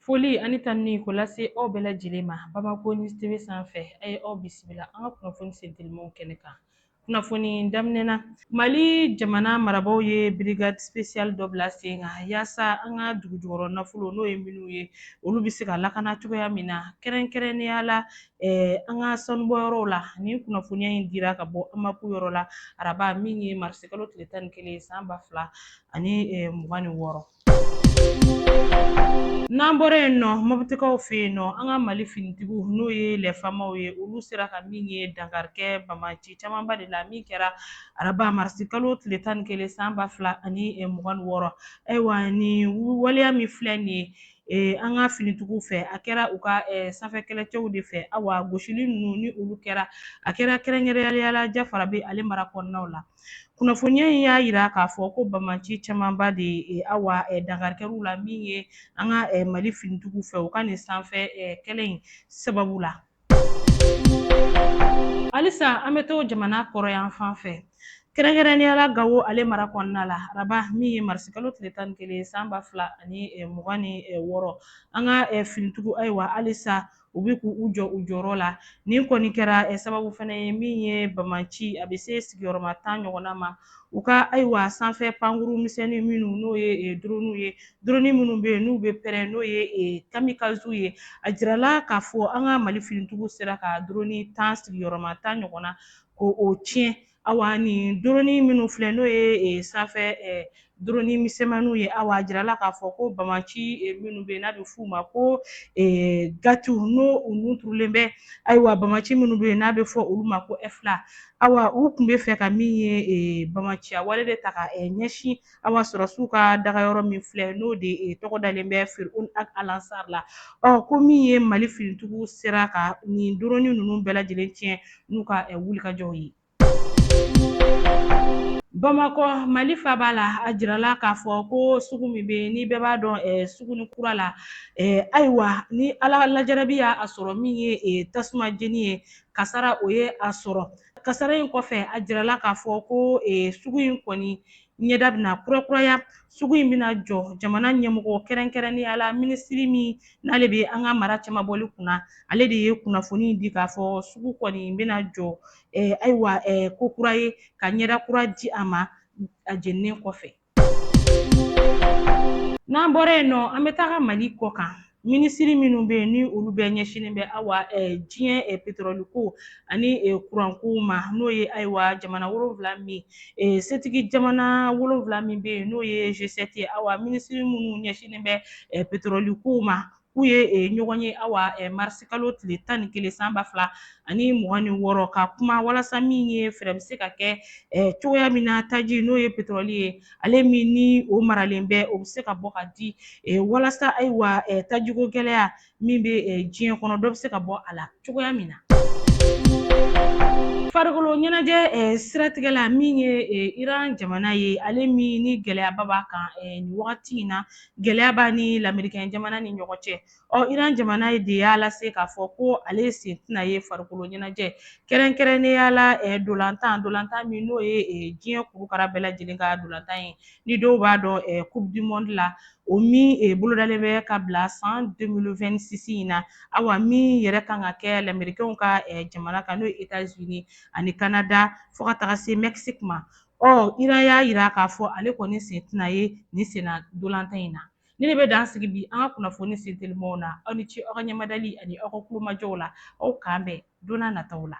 Foli ani tanuni k'o lase aw bɛɛ lajɛlen ma bamakɔ ni tebe sanfɛ a ye aw bisimila an ka kunnafoni sentelimaw kɛnɛ kan kunnafoni daminɛ na mali jamana marabagaw ye brigade spéciale dɔ bila sen kan yaasa an ka dugujukɔrɔ nafolo n'o ye minnu ye olu bɛ se ka lakana cogoya min na kɛrɛnkɛrɛnnenya la an ka sanubɔyɔrɔw la nin kunnafoniya in dira ka bɔ anbako yɔrɔ la araba min ye marisikalo tile tan ni kelen san ba fila ani mugan ni wɔɔrɔ n'an bɔra yen nɔ mɔbitikaw fɛ yen nɔ an ka mali finitigiw n'o ye lɛfamaw ye olu sera ka min ye dankarikɛ bamaci camanba de la min kɛra araba marisikalo tile tan ni kelen san ba fila ani mugan ni wɔɔrɔ ayiwa nin waleya min filɛ nin ye Eh, an ka finitigiw fɛ a kɛra u ka eh, sanfɛ kɛlɛcɛw de fɛ awa gosili ninnu ni olu kɛra a kɛra kɛrɛnkɛrɛnniya la Jafarabɛ ale mara kɔnɔnaw la kunnafoniya in y'a jira k'a fɔ ko bamaci camanba de ye awa dankari kɛr'u la min ye an ka mali finitigiw fɛ u ka nin sanfɛ kɛlɛ in sababu la halisa an bɛ to jamana kɔrɔnyanfan fɛ kɛrɛnkɛrɛnniya la gawo ale mara kɔnɔna la araba min ye marisikalo tile tan ni kelen san ba fila ani mugan ni wɔɔrɔ an ka finitigiw ayiwa halisa u bɛ k'u jɔ u jɔyɔrɔ la nin kɔni kɛra eh, sababu fana ye min ye bamanci a bɛ se sigiyɔrɔma tan ɲɔgɔnna ma u ka ayiwa sanfɛ pankuru misɛnnin minnu n'o ye eh, duroniw ye duroni minnu bɛ yen n'u bɛ pɛrɛn n'o ye eh, kamikaziw ye a jirala k'a fɔ an ka mali finintigiw sera ka duroni tan sigiyɔrɔma tan ɲɔgɔnna k'o tiɲɛ Awa nin drone minnu filɛ n'o ye eh, sanfɛ eh, drone misɛnmaniw ye awa a jirala k'a fɔ ko bamaci eh, minnu bɛ n'a bɛ f'u ma ko eh, gatiw n'o u nun turulen bɛ ayiwa bamaci minnu bɛ n'a bɛ fɔ olu ma ko ɛfla awa u tun bɛ fɛ ka min ye eh, bamaciya wale de ta ka eh, ɲɛsin awa sɔrɔdasiw ka dagayɔrɔ min filɛ n'o de tɔgɔ dalen bɛ Firun Ag Alansar la ɔ ko min ye Mali finitigiw sera ka nin doroni ninnu bɛɛ lajɛlen tiɲɛ n'u ka wulikajɔw ye. Bamakɔ Mali faaba la a jirala k'a fɔ ko sugu min bɛ ni bɛɛ b'a dɔn suguni kura la ayiwa nin Ala la jarabi y'a sɔrɔ min ye tasuma jeni ye kasara o ye a sɔrɔ Kasara in kɔfɛ a jirala k'a fɔ ko eh, sugu in kɔni ɲɛda bɛna kurakuraya sugu in bɛna jɔ jamana ɲɛmɔgɔ kɛrɛnkɛrɛnnenya la minisiri min n'ale bɛ an ka mara cɛmabɔli kunna ale de ye kunnafoni di k'a fɔ sugu kɔni bɛna jɔ eh, ayiwa eh, ko kura ye ka ɲɛda kura di a ma a jeninen kɔfɛ N'an bɔra yen nɔ an bɛ taga mali kɔkan minisiri minnu bɛ yen ni olu bɛɛ ɲɛsinnen bɛ awa diɲɛ petroli ko ani kuranko ma n'o ye ayiwa jamana wolonwula min setigi jamana wolonwula min bɛ yen n'o ye G7 ye awa minisiri minnu ɲɛsinnen bɛ petroli ko ma k'u ye eh, ɲɔgɔn ye awa eh, marisikalo tile tan ni kelen san ba fila ani mugan ni wɔɔrɔ ka kuma walasa min ye fɛɛrɛ bɛ se ka kɛ eh, cogoya min na taji n'o ye petrɔli ye ale min ni o maralen bɛ o bɛ se ka bɔ ka di walasa ayiwa tajiko gɛlɛya min bɛ diɲɛ kɔnɔ dɔ bɛ se ka bɔ a la cogoya min na. farikolo ɲɛnajɛ eh, siratigɛ la min ye eh, iran jamana ye ale min ni gɛlɛyaba b'a kan eh, nin wagati in na gɛlɛya b'a ni lamerikɛn jamana ni ɲɔgɔn cɛ ɔ iran jamana de y'a lase k'a fɔ ko ale sen tɛna ye farikolo ɲɛnajɛ kɛrɛnkɛrɛnnenya la ntolatan ntolatan min n'o ye diɲɛ kurukara bɛɛ lajɛlen ka ntolatan ye ni dɔw b'a dɔn coupe du monde la o min bolodalen bɛ ka bila san 2026 in na awa min yɛrɛ kan ka kɛ lamerikɛnw ka jamana kan n'o ye etats unis ani canada fɔɔ ka taga se mexique ma Ɔ Iran y'a jira k'a fɔ ale kɔni sen tɛna ye nin senna ntolatan in na. Nin de bɛ dan sigi bi an ka kunnafoni sentelimaw na, aw ni ce aw ka ɲɛmadali ani aw ka tulomajɔw la, aw k'an bɛn don nataw la.